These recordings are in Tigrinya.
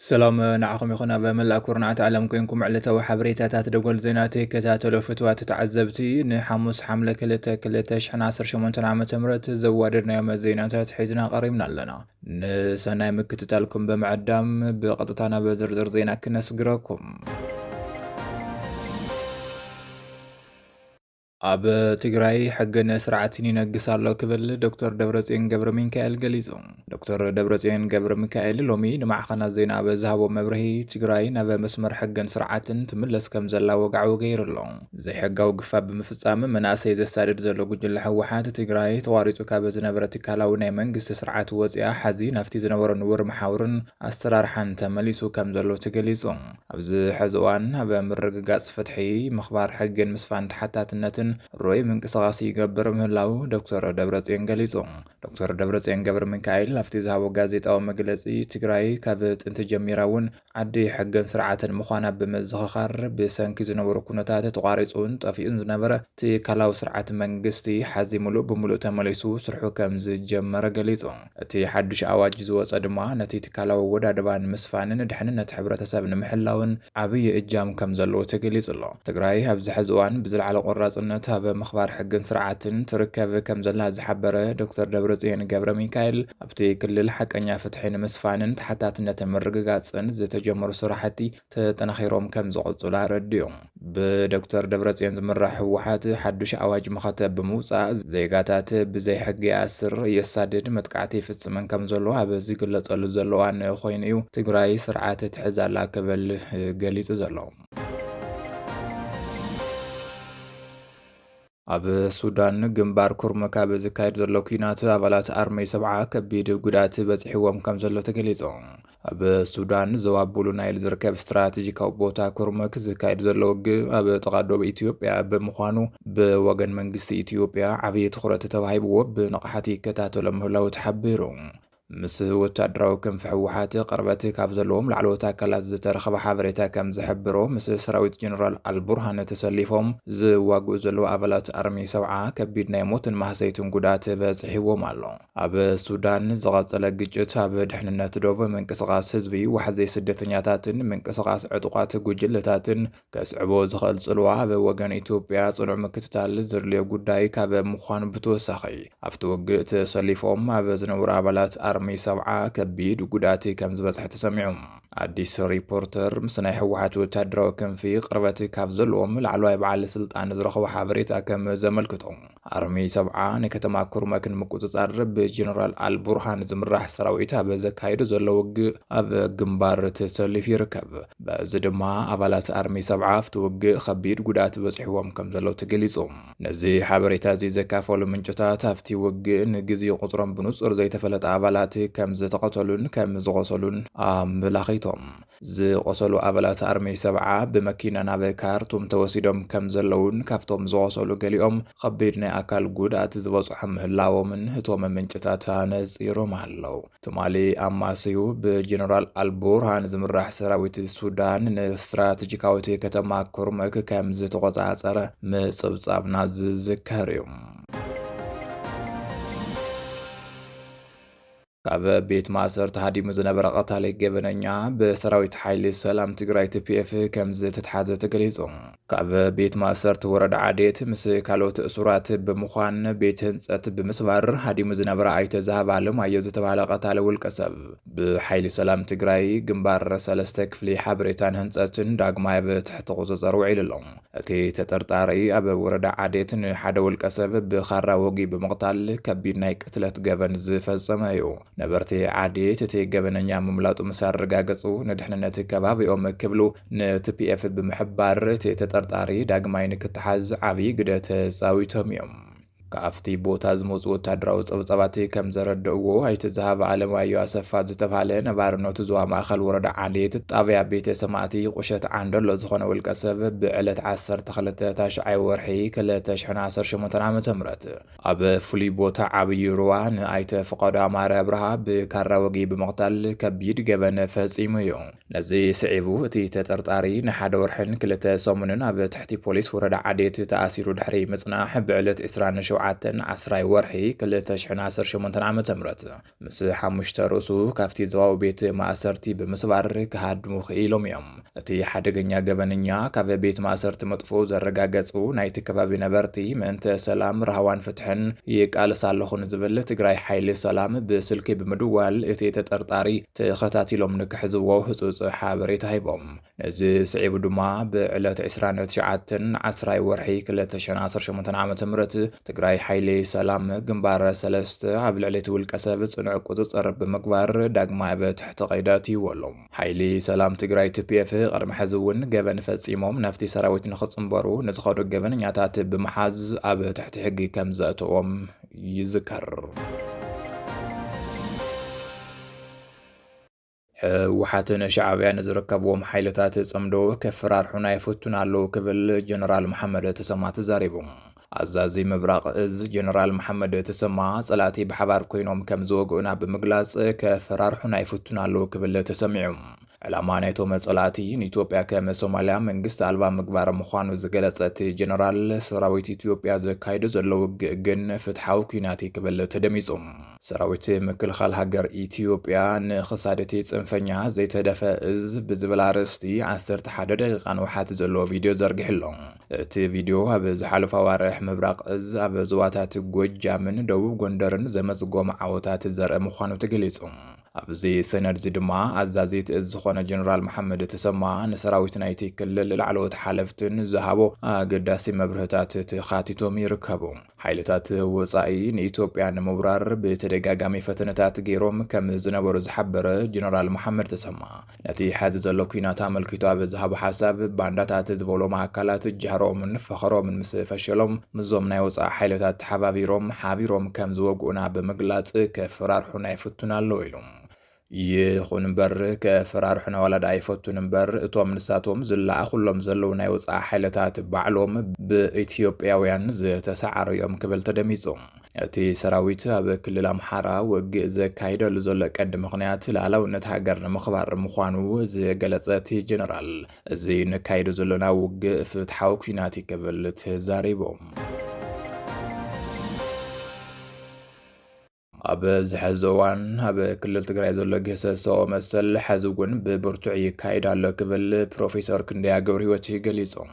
ሰላም ንዓኹም ይኹን ኣብ መላእ ኩርናዓት ዓለም ኮንኩም ዕለታዊ ሓበሬታታት ደጎል ዜና ትከታተሉ ፍትዋት ተዓዘብቲ ንሓሙስ ሓምለ 2 2018 ዓ ም ዘዋደድናዮም ዜናታት ሒዝና ቀሪብና ኣለና ንሰናይ ምክትታልኩም ብምዕዳም ብቐጥታ ናብ ዝርዝር ዜና ክነስግረኩም። ኣብ ትግራይ ሕግን ስርዓትን ይነግስ ኣሎ ክብል ዶክተር ደብረፅዮን ገብረ ሚካኤል ገሊጹ። ዶክተር ደብረፅዮን ገብረ ሚካኤል ሎሚ ንማዕኸናት ዜና ኣብ ዝሃቦ መብርሂ ትግራይ ናብ መስመር ሕግን ስርዓትን ትምለስ ከም ዘላ ወግዓዊ ገይሩ ኣሎ። ዘይሕጋዊ ግፋ ብምፍፃም መናእሰይ ዘሳድድ ዘሎ ጉጅለ ህወሓት፣ ትግራይ ተቋሪፁ ካብ ዝነበረ ትካላዊ ናይ መንግስቲ ስርዓት ወፂኣ ሐዚ ናፍቲ ዝነበሮ ንቡር መሓውርን ኣሰራርሓን ተመሊሱ ከም ዘሎ ተገሊፁ። ኣብዚ ሐዚ እዋን ኣብ ምርግጋፅ ፍትሒ፣ ምኽባር ሕጊን ምስፋን ተሓታትነትን ርኡይ ምንቅስቓስ ይገብር ምህላው ዶክተር ደብረፅዮን ገሊፁ። ዶክተር ደብረፅዮን ገብረሚካኤል ኣብቲ ዝሃቦ ጋዜጣዊ መግለፂ፣ ትግራይ ካብ ጥንቲ ጀሚራ እውን ዓዲ ሕግን ስርዓትን ምዃና ብምዝኽኻር፣ ብሰንኪ ዝነበሩ ኩነታት ተቋሪጹን ጠፊኡን ዝነበረ ትካላዊ ስርዓት መንግስቲ፣ ሓዚ ምሉእ ብምሉእ ተመሊሱ ስርሑ ከም ዝጀመረ ገሊጹ። እቲ ሓዱሽ ኣዋጅ ዝወጸ ድማ፣ ነቲ ትካላዊ ኣወዳድባ ንምስፋንን ድሕንነት ሕብረተሰብ ንምሕላውን ዓብዪ እጃም ከም ዘለዎ ተገሊጹ ኣሎ። ትግራይ ኣብዚ ሕዚ እዋን ብዝለዓለ ቆራጽነት ኣብ ምኽባር ሕግን ስርዓትን ትርከብ ከም ዘላ ዝሓበረ ዶክተር ደብረጽዮን ገብረሚካኤል፣ ኣብቲ ክልል ሓቀኛ ፍትሒ ንምስፋንን ተሓታትነት ንምርግጋፅን ዝተጀመሩ ስራሕቲ ተጠናኺሮም ከምዝቕፅሉ ኣረዲኦም። ብዶክተር ደብረፅዮን ዝምራሕ ህወሓት ሓዱሽ ኣዋጅ መኸተ ብምውፃእ ዜጋታት ብዘይ ሕጊ ይኣስር፣ የሳድድ፣ መጥቃዕቲ ይፍፅምን ከምዘሎ ኣብ ዝግለፀሉ ዘሎ እዋን ኮይኑ እዩ ትግራይ ስርዓት ትሕዝ ኣላ ክብል ገሊፁ ዘሎ። ኣብ ሱዳን ግንባር ኩርሙክ ኣብ ዝካየድ ዘሎ ኩናት ኣባላት ኣርመይ ሰብዓ ከቢድ ጉድኣት በፂሕዎም ከም ዘሎ ተገሊፁ። ኣብ ሱዳን ዞባ ቡሉ ናይል ዝርከብ ስትራቴጂካዊ ቦታ ኩርምክ ዝካየድ ዘሎ ውግእ ኣብ ጥቓ ዶብ ኢትዮጵያ ብምዃኑ ብወገን መንግስቲ ኢትዮጵያ ዓብዪ ትኹረት ተባሂብዎ ብንቕሓት ይከታተሎ ምህላው ተሓቢሩ። ምስ ወታደራዊ ክንፊ ህወሓት ቅርበት ካብ ዘለዎም ላዕለዎት ኣካላት ዝተረኸበ ሓበሬታ ከም ዝሕብሮ ምስ ሰራዊት ጀነራል ኣልቡርሃን ተሰሊፎም ዝዋግኡ ዘለዉ ኣባላት ኣርሚ ሰውዓ ከቢድ ናይ ሞትን ማህሰይትን ጉድኣት በፅሒዎም ኣሎ። ኣብ ሱዳን ዝቐፀለ ግጭት ኣብ ድሕንነት ዶብ፣ ምንቅስቓስ ህዝቢ፣ ዋሕዚ ስደተኛታትን ምንቅስቓስ ዕጡቓት ጉጅለታትን ከስዕቦ ዝኸእል ጽልዋ ኣብ ወገን ኢትዮጵያ ጽኑዕ ምክትታል ዘድልዮ ጉዳይ ካብ ምዃኑ ብተወሳኺ ኣብቲ ውግእ ተሰሊፎም ኣብ ዝነበሩ ኣባላት ኣርሚ ሰብዓ ከቢድ ጉድኣት ከም ዝበጽሐ ተሰሚዑ። ኣዲስ ሪፖርተር ምስ ናይ ህወሓት ወታደራዊ ክንፊ ቅርበት ካብ ዘለዎም ላዕለዋይ በዓል ስልጣን ዝረኸቦ ሓበሬታ ከም ዘመልክቶ ኣርሚ ሰብዓ ንከተማ ኩርመክ ንምቁጽጻር ብጀነራል ኣልቡርሃን ዝምራሕ ሰራዊት ኣብ ዘካይዶ ዘሎ ውግእ ኣብ ግንባር ተሰሊፉ ይርከብ። በዚ ድማ ኣባላት ኣርሚ ሰብዓ ኣብቲ ውግእ ከቢድ ጉድኣት በጺሕዎም ከምዘሎ ተገሊጹ። ነዚ ሓበሬታ'ዚ ዘካፈሉ ምንጭታት ኣብቲ ውግእ ንግዜኡ ቁጽሮም ብንጹር ዘይተፈለጠ ኣባላት ከምዝተቐተሉን ከምዝቖሰሉን ኣመላኺቶም። ዝቖሰሉ ኣባላት ኣርሚ ሰብዓ ብመኪና ናብ ካርቱም ተወሲዶም ከም ዘለዉን ካብቶም ዝቖሰሉ ገሊኦም ኸቢድ ናይ ኣካል ጉድኣት ዝበፅሖም ምህላዎምን እቶም ምንጭታት ኣነፂሮም ኣለዉ። ትማሊ ኣማስዩ ብጀነራል ኣልቡርሃን ዝምራሕ ሰራዊት ሱዳን ንስትራቴጂካዊት ከተማ ኩርሙክ ከም ዝተቖፃፀረ ምፅብፃብና ዝዝከር እዩ። ካብ ቤት ማእሰርቲ ሃዲሙ ዝነበረ ቀታሊ ገበነኛ ብሰራዊት ሓይሊ ሰላም ትግራይ ቲፒኤፍ ከም ዝተትሓዘ ተገሊጹ። ካብ ቤት ማእሰርቲ ወረዳ ዓዴት ምስ ካልኦት እሱራት ብምዃን ቤት ህንፀት ብምስባር ሃዲሙ ዝነበረ ኣይተ ዝሃብ ኣለማዮ ዝተባሃለ ቀታሊ ውልቀ ሰብ ብሓይሊ ሰላም ትግራይ ግንባር ሰለስተ ክፍሊ ሓበሬታን ህንፀትን ዳግማይ ኣብ ትሕቲ ቁፅፅር ውዒሉ ኣሎ። እቲ ተጠርጣሪ ኣብ ወረዳ ዓዴት ንሓደ ውልቀ ሰብ ብኻራ ወጊኡ ብምቕታል ከቢድ ናይ ቅትለት ገበን ዝፈጸመ እዩ። ነበርቲ ዓዴት እቲ ገበነኛ ምምላጡ ምስ ኣረጋገጹ ንድሕንነት ከባቢኦም ክብሉ ንቲፒኤፍ ብምሕባር እቲ ተጠርጣሪ ዳግማይ ንክተሓዝ ዓብዪ ግደ ተጻዊቶም እዮም። ካብቲ ቦታ ዝመጹ ወታደራዊ ጸብጻባት ከም ዘረደእዎ፣ ኣይተ ዝሃበ ኣለማዮ ኣሰፋ ዝተብሃለ ነባሪ ኖቲ ዞባ ማእከል ወረዳ ዓሌት ጣብያ ቤተ ሰማእቲ ቁሸት ዓንደሎ ዝኾነ ውልቀ ሰብ ብዕለት ዓሰርተ ክልተ ታሽዓይ ወርሒ ክልተ ሽሕን ዓሰርተ ሸሞንተን ዓመተ ምህረት ኣብ ፍሉይ ቦታ ዓብዪ ሩባ ንኣይተ ፍቃዱ ኣማረ ኣብርሃ ብካራ ወግኢ ብምቕታል ከቢድ ገበን ፈጺሙ እዩ። ነዚ ስዒቡ እቲ ተጠርጣሪ ንሓደ ወርሕን ክልተ ሰሙንን ኣብ ትሕቲ ፖሊስ ወረዳ ዓዴት ተኣሲሩ ድሕሪ ምጽናሕ ብዕለት ዕስራን ሸውዓተን ዓስራይ ወርሒ ክልተ ሽሕን ዓሰርተ ሸሞንተን ዓመተ ምህረት ምስ ሓሙሽተ ርእሱ ካብቲ ዞባዊ ቤት ማእሰርቲ ብምስባር ክሃድሙ ክኢሎም እዮም። እቲ ሓደገኛ ገበነኛ ካብ ቤት ማእሰርቲ ምጥፍኡ ዘረጋገጹ ናይቲ ከባቢ ነበርቲ ምእንተ ሰላም፣ ራህዋን ፍትሕን ይቃለስ ኣለኹ ንዝብል ትግራይ ሓይሊ ሰላም ብስልኪ ብምድዋል እቲ ተጠርጣሪ ተኸታቲሎም ንክሕዝዎ ህፁፅ ሓበሬታ ሂቦም። ነዚ ስዒቡ ድማ ብዕለት ዕስራን ትሽዓተን ዓስራይ ወርሒ ክልተ ሽሕን ዓሰርተ ሸሞንተን ዓመተ ምህረት ትግራይ ሓይሊ ሰላም ግንባር ሰለስተ ኣብ ልዕሊ እቲ ውልቀሰብ ፅኑዕ ቁፅፅር ብምግባር ዳግማይ ኣብ ትሕቲ ቀይዲ ኣእትይዎ ኣሎ። ሓይሊ ሰላም ትግራይ፣ TPF፣ ቅድሚ ሕዚ እውን ገበን ፈፂሞም ናብቲ ሰራዊት ንክፅምበሩ ንዝኸዱ ገበነኛታት ብምሓዝ ኣብ ትሕቲ ሕጊ ከምዘእተዎም ይዝከር። ህወሓትን ሻዕብያን ዝርከብዎም ሓይልታት ፅምዶ ከፈራርሑና ይፈቱን ኣለው ክብል ጀነራል መሓመድ ተሰማ ተዛሪቡ። ኣዛዚ ምብራቕ እዝ ጀነራል መሓመድ ተሰማ ፀላእቲ ብሓባር ኮይኖም ከም ዝወግኡና ብምግላፅ ከፈራርሑና ይፈቱን ኣለው ክብል ተሰሚዑ። ዕላማ ናይቶም ፀላእቲ ንኢትዮጵያ ከም ሶማሊያ መንግስቲ ኣልባ ምግባር ምዃኑ ዝገለፀ እቲ ጀነራል ሰራዊት ኢትዮጵያ ዘካይዶ ዘሎ ውግእ ግን ፍትሓዊ ኩናት እዩ ክብል ተደሚፁ። ሰራዊት ምክልኻል ሃገር ኢትዮጵያ ንክሳድ እቲ ፅንፈኛ ዘይተደፈ እዝ ብዝብል ኣርእስቲ ዓሰርተ ሓደ ደቂቃ ንውሓት ዘለዎ ቪድዮ ዘርጊሑ ኣሎ። እቲ ቪድዮ ኣብ ዝሓለፉ ኣዋርሕ ምብራቕ እዝ ኣብ ዞባታት ጎጃምን ደቡብ ጎንደርን ዘመዝጎም ዓወታት ዘርኢ ምዃኑ ተገሊፁ። ኣብዚ ሰነድዚ ድማ ኣዛዚት እዝ ዝኾነ ጀነራል መሓመድ ተሰማ ንሰራዊት ናይቲ ክልል ላዕለዎት ሓለፍትን ዝሃቦ ኣገዳሲ መብርህታት ተኻቲቶም ይርከቡ። ሓይልታት ወፃኢ ንኢትዮጵያ ንምውራር ብተደጋጋሚ ፈተነታት ገይሮም ከም ዝነበሩ ዝሓበረ ጀነራል መሓመድ ተሰማ፣ ነቲ ሐዚ ዘሎ ኩናት ኣመልኪቱ ኣብ ዝሃቦ ሓሳብ ባንዳታት ዝበሎም ኣካላት ጃህሮኦምን ፈኸሮምን ምስ ፈሸሎም ምዞም ናይ ወፃኢ ሓይልታት ተሓባቢሮም ሓቢሮም ከም ዝወግኡና ብምግላፅ ከፈራርሑና ይፍቱኑ ኣለዉ ኢሉ። ይኹን እምበር ከፈራርሑና ዋላ ደኣ ይፈቱኑ እምበር እቶም ንሳቶም ዝለኣኹሎም ዘለዉ ናይ ወፃኢ ሓይልታት ባዕሎም ብኢትዮጵያውያን ዝተሰዓሩ እዮም ክብል ተደሚፁ። እቲ ሰራዊት ኣብ ክልል ኣምሓራ ውግእ ዘካይደሉ ዘሎ ቀዲ ምኽንያት ላዕላውነት ሃገር ንምኽባር ምዃኑ ዝገለጸ እቲ ጀነራል እዚ ንካይዶ ዘሎና ውግእ ፍትሓዊ ኩናት እዩ ክብል ተዛሪቦም። ኣብ ዝሐዚ እዋን ኣብ ክልል ትግራይ ዘሎ ግህሰሰኦ መሰል ሐዚ እውን ብብርቱዕ ይካየድ ኣሎ ክብል ፕሮፌሰር ክንደያ ገብረ ህይወት ገሊፆም።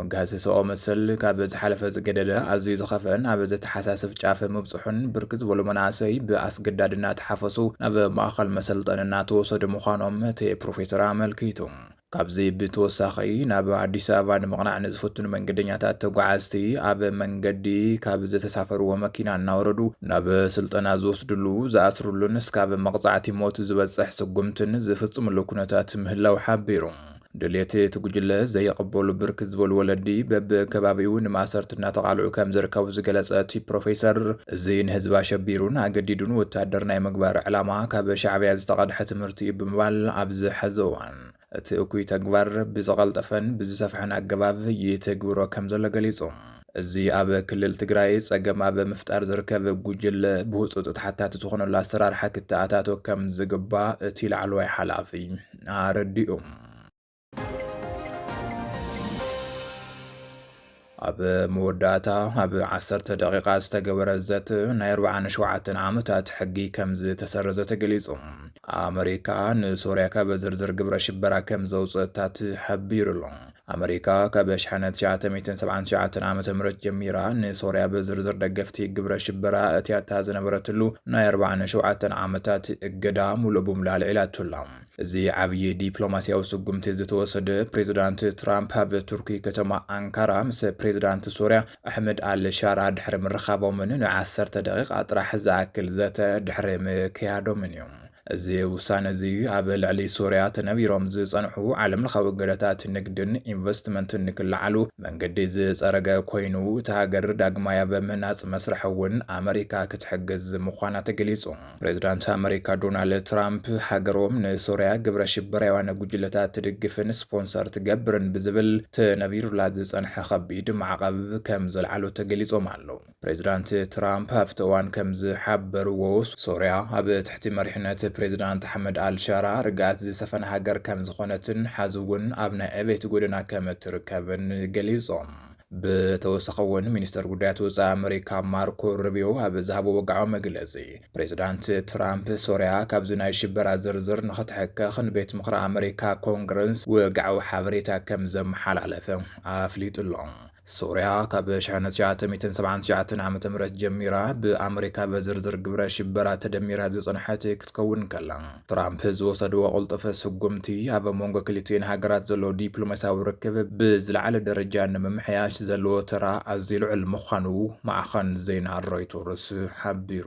መጋሰሰኦ መሰል ካብ ዝሓለፈ ዝገደደ ኣዝዩ ዝኸፍአን ኣብ ዘተሓሳስብ ጫፍ ምብጽሑን ብርክት ዝበሉ መናእሰይ ብኣስገዳድ እናተሓፈሱ ናብ ማእኸል መሰልጠኒ እናተወሰዱ ምዃኖም እቲ ፕሮፌሰር ኣመልኪቱ። ካብዚ ብተወሳኺ ናብ ኣዲስ ኣበባ ንምቕናዕ ንዝፍትኑ መንገደኛታት ተጓዓዝቲ ኣብ መንገዲ ካብ ዝተሳፈርዎ መኪና እናወረዱ ናብ ስልጠና ዝወስድሉ፣ ዝኣስርሉን እስካብ መቕጻዕቲ ሞት ዝበጽሕ ስጉምትን ዝፍጽምሉ ኩነታት ምህላው ሓቢሩ። ድሌት እቲ ጉጅለ ዘየቕበሉ ብርክት ዝበሉ ወለዲ በብከባቢኡ ንማእሰርቲ እናተቓልዑ ከም ዝርከቡ ዝገለጸ እቲ ፕሮፌሰር እዚ ንህዝቢ ኣሸቢሩን ኣገዲዱን ወታደር ናይ ምግባር ዕላማ ካብ ሻዕብያ ዝተቐድሐ ትምህርቲ እዩ ብምባል ኣብዚ ሐዚ እዋን እቲ እኩይ ተግባር ብዝቐልጠፈን ብዝሰፍሐን ኣገባብ ይትግብሮ ከም ዘሎ ገሊጹ። እዚ ኣብ ክልል ትግራይ ፀገም ኣብ ምፍጣር ዝርከብ ጉጅለ ብህፁፅ ተሓታቲ ዝኾነሉ ኣሰራርሓ ክተኣታቶ ከምዝግባእ እቲ ላዕለዋይ ሓላፊ ኣረዲኡ። ኣብ መወዳእታ ኣብ ዓሰርተ ደቂቓ ዝተገበረ ዘተ ናይ 47 ዓመታት ሕጊ ከም ዝተሰረዘ ተገሊጹ። ኣመሪካ ንሶርያ ካብ ዝርዝር ግብረ ሽበራ ከም ዘውፅእታ ተሓቢሩሉ። ኣመሪካ ካብ ሸሓነ ትሽዓተ ሚእትን ሰብዓን ትሽዓተን ዓመተ ምህረት ጀሚራ ንሶርያ ብዝርዝር ደገፍቲ ግብረ ሽበራ እትያታ ዝነበረትሉ ናይ ኣርባዓን ሸውዓተን ዓመታት እገዳ ሙሉእ ብሙሉእ ኣልዒላቶ ኣላ። እዚ ዓብዪ ዲፕሎማሲያዊ ስጉምቲ ዝተወሰደ ፕሬዝዳንት ትራምፕ ኣብ ቱርኪ ከተማ ኣንካራ ምስ ፕሬዝዳንት ሶርያ ኣሕመድ ኣል ሻራ ድሕሪ ምርኻቦምን ን ዓሰርተ ደቒቓ ጥራሕ ዝኣክል ዘተ ድሕሪ ምክያዶምን እዩ። እዚ ውሳነ'ዚ ኣብ ልዕሊ ሶርያ ተነቢሮም ዝጸንሑ ዓለምለኻዊ እገዳታት ንግድን ኢንቨስትመንትን ንክለዓሉ መንገዲ ዝጸረገ ኮይኑ፣ እታ ሃገር ዳግማይ ኣብ ምህናጽ መስርሕ'ውን ኣመሪካ ክትሕግዝ ምዃና ተገሊጹ። ፕሬዝዳንት ኣመሪካ ዶናልድ ትራምፕ ሃገሮም ንሶርያ ግብረ ሽበራውያን ጉጅለታት ትድግፍን ስፖንሰር ትገብርን ብዝብል ተነቢሩላ ዝጸንሐ ከቢድ ማዕቐብ ከም ዘልዓሉ ተገሊጾም ኣለዉ። ፕሬዝዳንት ትራምፕ ኣብቲ እዋን ከም ዝሓበርዎ ሶርያ ኣብ ትሕቲ መሪሕነት ፕሬዝዳንት ኣሕመድ ኣልሻራ ርግኣት ዝሰፈና ሃገር ከም ዝኾነትን ሓዚ እውን ኣብ ናይ ዕቤት ጎደና ከም እትርከብን ገሊጾም። ብተወሳኺ እውን ሚኒስተር ጉዳያት ወፃኢ ኣመሪካ ማርኮ ሩቢዮ ኣብ ዝሃቦ ወግዓዊ መግለፂ ፕሬዚዳንት ትራምፕ ሶርያ ካብዚ ናይ ሽበራ ዝርዝር ንኽትሕከኽ ንቤት ምኽሪ ኣመሪካ ኮንግረስ ወግዓዊ ሓበሬታ ከም ዘመሓላለፈ ኣፍሊጡ ኣሎ። ሶርያ ካብ 1979 ዓ.ም ጀሚራ ብኣመሪካ በዝርዝር ግብረ ሽበራ ተደሚራ ዝፀንሐት ክትከውን እንከላ፣ ትራምፕ ዝወሰድዎ ቅልጡፍ ስጉምቲ ኣብ መንጎ ክልቲኤን ሃገራት ዘሎ ዲፕሎማስያዊ ርክብ ብዝለዓለ ደረጃ ንምምሕያሽ ዘለዎ ተራ ኣዝዩ ልዑል ምዃኑ ማዕኸን ዜና ሮይቶርስ ሓቢሩ።